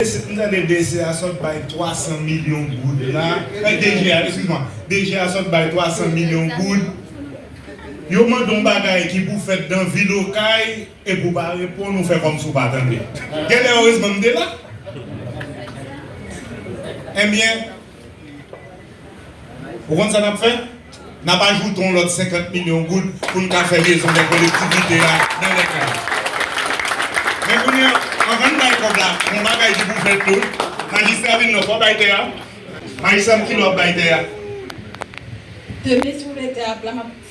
Eske m tande DC a sot bay 300 milyon goud la, eh DG a excuse moi, DG a sot bay 300 milyon goud, yo mande yon bagay ki pou fèt dan vil okay epi ou pa reponn ou fè kòmsi ou pa tande. Genlè erezman m te la. Enbyen. Ou konn sa n ap fè? N ap ajoute yon lòt 50 milyon goud pou n ka fè mezon lè kolektivite a nan lè ka. Men kounye a, anvan n bay kòb la, yon bagay ki pou fèt tou, majistra vin nan, fò w bay tè a. Majistra m, kilè w ap bay tè a? Demen si w vle tè a plat, m ap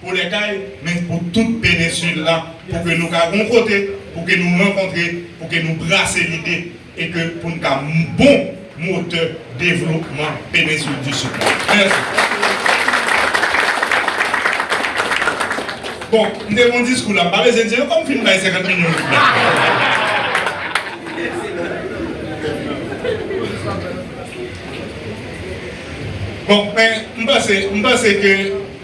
Pou lè kay, men pou tout Penensyl-la, pou ke nou ka gon kote, pou ke nou rankontre, pou ke nou brase lide, e ke pou n ka bon motè devlopman Penensyl di Sid-la. Mèsi. Bon, m te gon diskou la, m pa bezwen di ankò, m fin bay 50 milyon l fèt. Bon, men, m panse, m panse ke.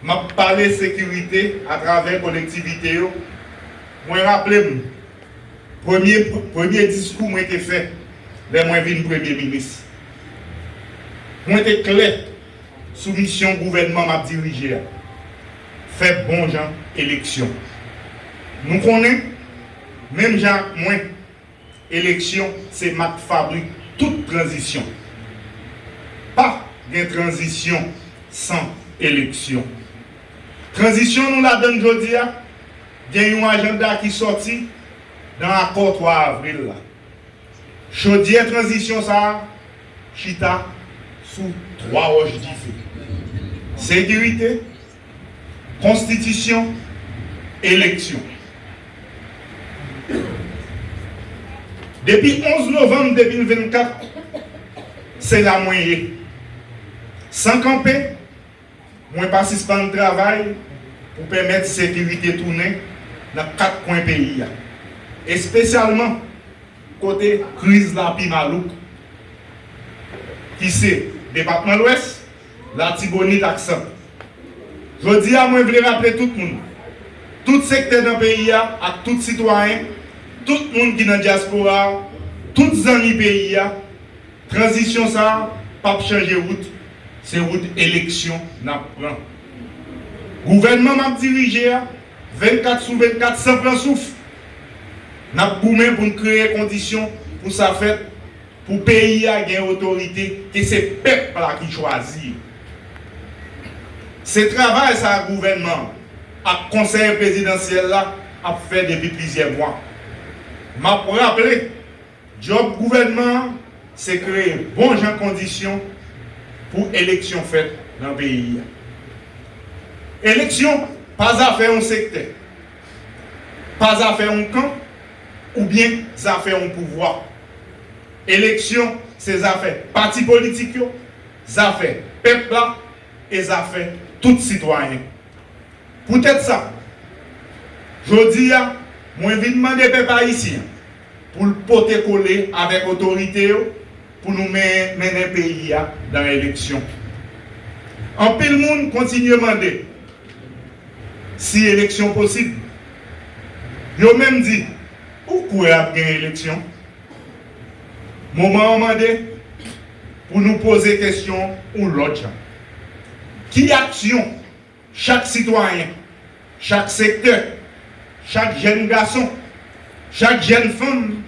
M ap pale sekirite atravè kolektivite yo, mwen raple m premye premye diskou mwen te fè lè mwen vin premye minis. Mwen te klè sou misyon gouvènman m ap dirije a, fè bon jan eleksyon. Nou konnen, menm jan ak mwen. Eleksyon se mak fabrik tout tranzisyon. Pa gen tranzisyon san eleksyon. Tranzisyon nou ladan l jodi a gen yon ajanda ki sòti nan akò 3 avril la. Chodyè tranzisyon sa a chita sou 3 wòch dife, sekirite, Konstitisyon, Eleksyon. Depi 11 novanm 2024, se la mwen ye. San kanpe, mwen pa sispann travay pou pèmèt sekirite tounen nan 4 kwen peyi a, espesyalman kote kriz la pi malouk, ki se Depatman Lwès, Latibonit ak Sant. Jodi a mwen vle raple tout moun, tout sektè nan peyi a ak tout sitwayen, tout moun ki nan dyaspora a, tout zanmi peyi a, tranzisyon sa a p ap chanje wout, se wout eleksyon n ap pran. Gouvènman m ap dirije a, 24 sou 24 san pran souf, n ap goumen pou n kreye kondisyon pou sa fèt, Pou peyi a gen otorite e se pèp la ki chwazi yo. Se travay sa gouvènman an ak konsèy prezidansyèl la ap fè depi plizyè mwa. M ap raple, djòb gouvènman an se kreye bon jan kondisyon pou eleksyon fèt nan peyi a. Eleksyon pa zafè yon sektè, pa zafè yon kan oubyen zafè yon pouvwa. Eleksyon se zafè pati politik yo, zafè pèp la e zafè tout sitwayen. Poutèt sa, jodi a, mwen vin mande pèp ayisyen an pou l pote kole avèk otorite yo pou nou mennen peyi a nan eleksyon. Anpil moun kontinye mande si eleksyon posib. Yo menm di. Ou kwè ap gen eleksyon? Moman an mande pou nou poze kesyon yon lòt jan. Ki aksyon chak sitwayen, chak sektè, chak jèn gason, chak jèn fanm,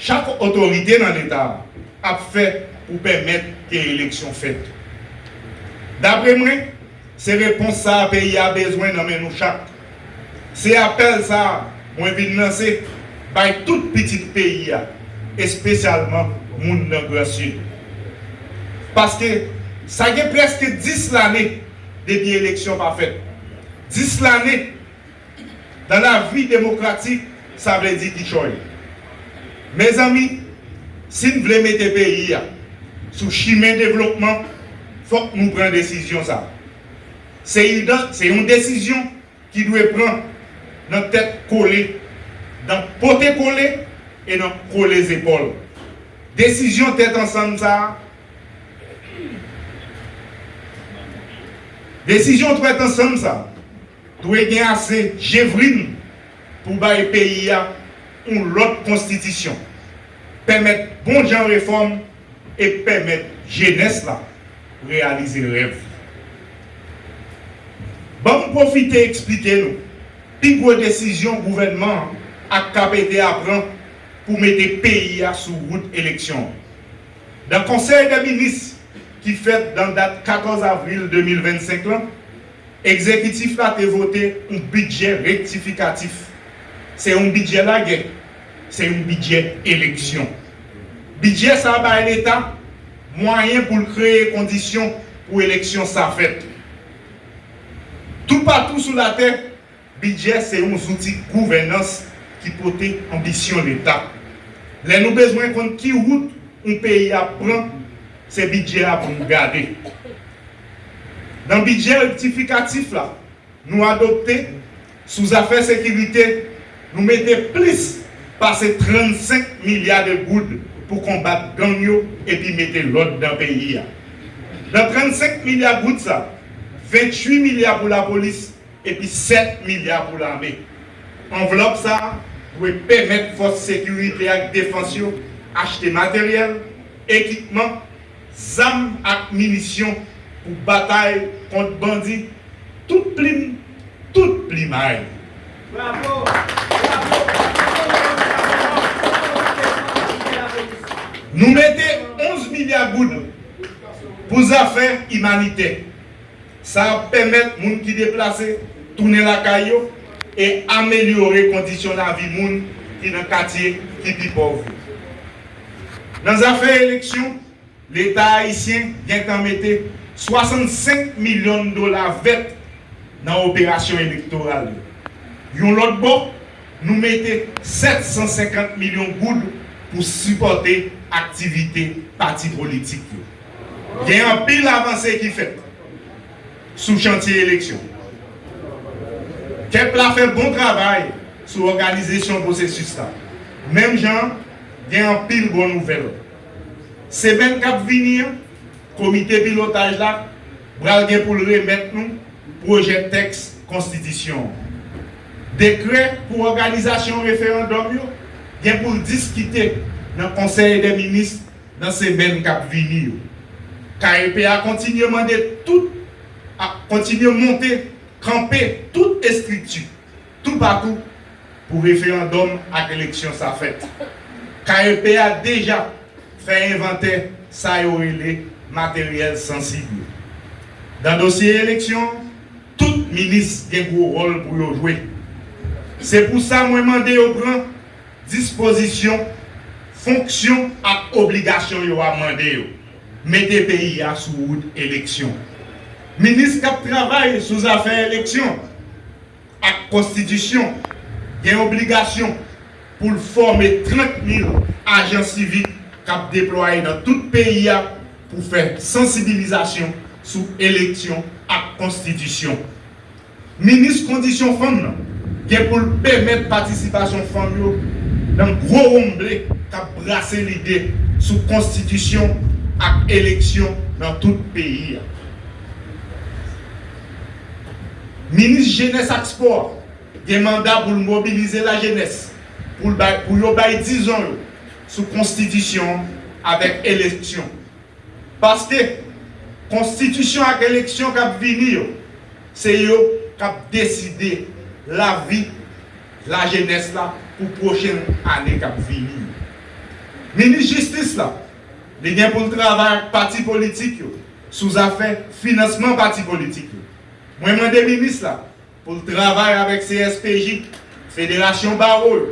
chak otorite nan Leta a ap fè pou pèmèt ke eleksyon fèt? Dapre mwen, Se repons sa a peyi a bezwen nan men nou chak. Se apèl sa a mwen vin lanse bay tout pitit peyi a, espesyalman moun nan Gran Sid. Paske, sa gen prèske 10 lane depi eleksyon pa fèt. 10 lane! Dans la vie demokratik sa vle di kichòy. Mezanmi, si n vle mete peyi a sou chimen devlopman, fòk nou pran desizyon sa. Se yon desizyon ki dwe pran nan tèt kole, nan pote kole e nan kole zepòl. Desizyon tèt ansanm sa, desizyon twèt ansanm sa. Dwe gen ase jevrin pou bay peyi a yon lòt konstitisyon, pèmèt bon jan refòm e pèmèt jenès la reyalize rèv li. Ban m pwofite eksplike nou pi gwo desizyon gouvènman an ak KPD a pran pou mete peyi a sou wout eleksyon an. Nan Konsèy dè Minis ki fèt nan dat 14 avril 2025 lan, Egzekitif la te vote yon bidjè rektifikatif. Se yon bidjè lagè. Se yon bidjè eleksyon. Bidjè sa bay Leta mwayen pou l kreye kondisyon pou eleksyon sa fèt. Toupatou sou latè, Bidjè se yon zouti gouvènans ki pote anbisyon Leta. Lè nou bezwen konn ki wout yon peyi ap pran, se bidjè a pou nou gade. Nan bidjè rektifikatif la nou adopte sou zafè sekirite, nou mete plis pase 35 milya de goud pou konbat gang yo epi mete lòd nan peyi a. Nan 35 milya goud sa, 28 milya pou lapolis, epi 7 milya pou lame. Anvlòp sa a dwe pèmèt fòs sekirite ak defans yo achte materyèl, ekipman, zam ak minisyon pou batay kont bandi tout plim tout plimay. Bravo! Bravo! Bravo le Prezidan Senghor! Bravo Mateli pou kapite lapolis! Nou mete 11 milya goud pou zafè imanitè. Sa ap pèmèt moun ki deplase tounen lakay yo e amelyore kondisyon lavi moun ki nan katye ki pi pòv yo. Nan zafè eleksyon, Leta ayisyen gentan mete 65 milyon dola vèt nan operasyon elektoral yo. Yon lòt bò, nou mete 750 milyon goud pou sipòte aktivite pati politik yo. gen anpil avanse ki fèt sou chantye eleksyon. Kep la fè bon travay sou òganizesyon pwosesis la, menm jan gen anpil bon nouvèl. Semèn k ap vini an, komite pilotaj la pral gen pou l remèt nou pwojè tèks konstitisyon an. Dekrè pou òganizasyon referandòm yo gen pou l diskite nan konsèy dè minis nan semèn k ap vini yo. KEP a kontinye mande tout ap kontinye monte kanpe tout estrikti toupatou pou referandòm ak eleksyon sa fèt. KEP a deja fè envantè sa yo rele materyèl sansib yo. Nan dosye eleksyon, tout minis gen gwo wòl pou yo jwe. Se pou sa mwen mande yo pran Dispozisyon, fonksyon ak obligasyon yo a mande yo mete peyi a sou wout eleksyon. Minis k ap travay sou zafè eleksyon ak konstitisyon gen obligasyon pou l fòme 30 mil ajan sivik k ap deplwaye nan tout peyi a pou fè sansibilizasyon sou eleksyon ak konstitisyon. Minis kondisyon fanm nan gen pou l pèmèt patisipasyon fanm yo nan gwo wonmble k ap brase lide sou konstitisyon ak eleksyon nan tout peyi a. Minis jenès ak spò a gen manda pou l mobilize lajenès pou l bay pou yo bay dizon yo sou konstitisyon an avèk eleksyon Paske, konstitisyon ak eleksyon k ap vini yo, se yo k ap deside lavi lajenès la pou pwochen ane k ap vini yo. Minis jistis la, li gen pou l travay ak pati politik yo sou zafè finansman pati politik yo. Mwen mande minis la Pou l travay avèk CSPJ, Federasyon Bawo yo,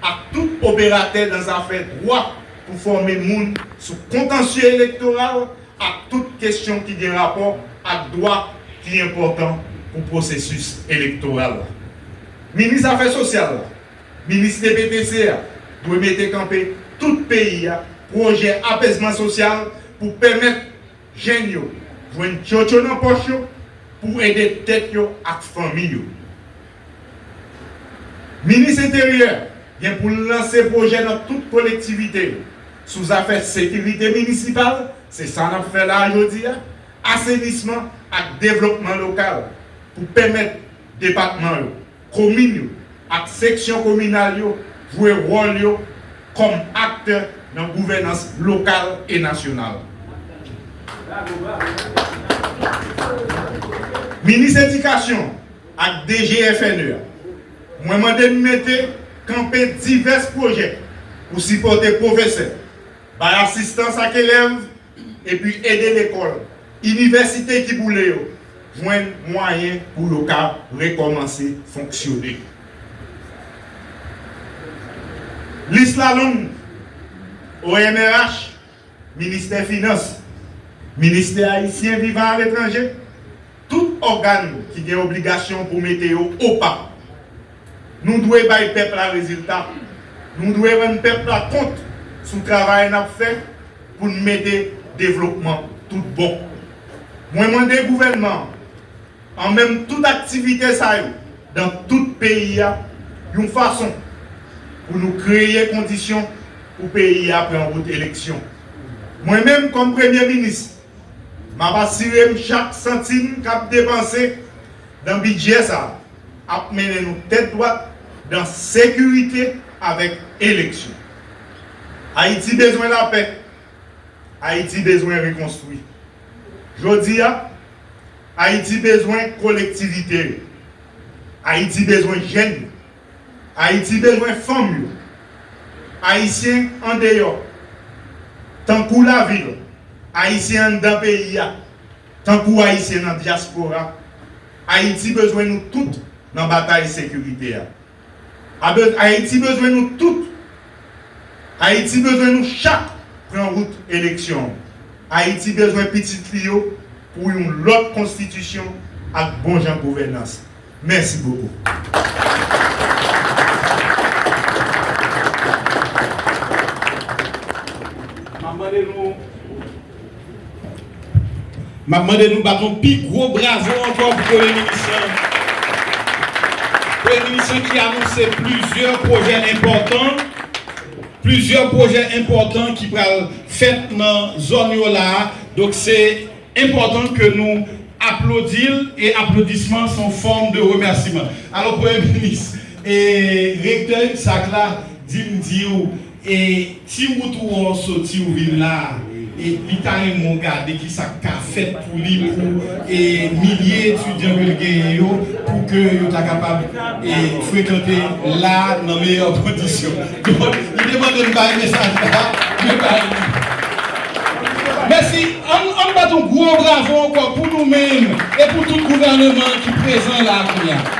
ak tout operatè nan zafè dwa pou fòme moun sou kontansye elektoral ak tout kesyon ki gen rapò ak dwa ki enpòtan pou pwosesis elektoral la. Minis Afè Sosyal la, Minis TPTC a dwe mete kanpe tout peyi a pwojè apezman sosyal pou pèmèt. Jèn yo jwenn tchotcho nan pòch yo pou ede tèt yo ak fanmi yo. Minis Enteryè gen pou l lanse pwojè nan tout kolektivite yo sou zafè sekirite minisipal, se sa n ap fè la a jodi a, asenisman ak devlopman lokal pou pèmèt depatman yo Komin yo ak seksyon kominal yo jwe wòl yo kòm aktè nan gouvènans lokal e nasyonal. Minis Edikasyon ak DGFNE a, mwen mande n mete kanpe divès pwojè pou sipòte pwofesè, bay asistans ak elèv epi ede lekòl, inivèsite ki boule yo jwenn mwayen pou yo ka rekòmanse fonksyone. Lis la long, ONRH, Ministè Finans, Ministè Ayisyen Vivan Aletranje, Tout ògàn ki gen obligasyon pou mete yo opa. Nou dwe bay pèp la rezilta. Nou dwe rann pèp la kont sou travay n ap fè pou n mete devlopman tout bon. Mwen mande gouvènman an an menm tout aktivite sa yo dan tout peyi a yon fason pou nou kreye kondisyon pou peyi a pran wout eleksyon. Mwen menm kòm Premye Minis. M ap asire m chak santim k ap depanse nan bidjè sa a ap mennen nou tèt dwat nan sekirite avèk eleksyon. Ayiti bezwen lapè. Ayiti bezwen rekonstwi. Jodi a, Ayiti bezwen kolektivite yo. Ayiti bezwen jèn yo. Ayiti bezwen fanm yo, Ayisyen andeyò tankou lavil, Ayisyen anndan peyi a tankou Ayisyen nan dyaspora. Ayiti bezwen nou tout nan batay sekirite a. Ayiti bezwen nou tout. Ayiti bezwen nou chak pran wout eleksyon. Ayiti bezwen pitit li yo pou yon lòt konstitisyon ak bon jan gouvènans. Mèsi bokou. Map mande nou Map mande nou bat yon pi gwo bravo ankò pou Premye Minis lan. Premye Minis lan ki anonse plizyè pwojè enpòtan, plizyè pwojè enpòtan ki pral fèt nan zòn yo la a. Donk se enpòtan ke nou aplodi l e aplodisman s on fòm de remèsiman alò premye minis e rektè UCSAC la di m di w e ti wout ou an w soti w vin la a e li ta renmen w gade ki sa k ka fèt pou li pou e milye etidyan ke l genyen yo pou ke yo ta kapab e frekante la a nan meyè kondisyon. Donk, li te mande m bay mesaj la, mwen bay li. Mèsi. An n bat yon gwo bravo ankò pou nou menm e pou tout gouvèneman ki prezan la a kounye a.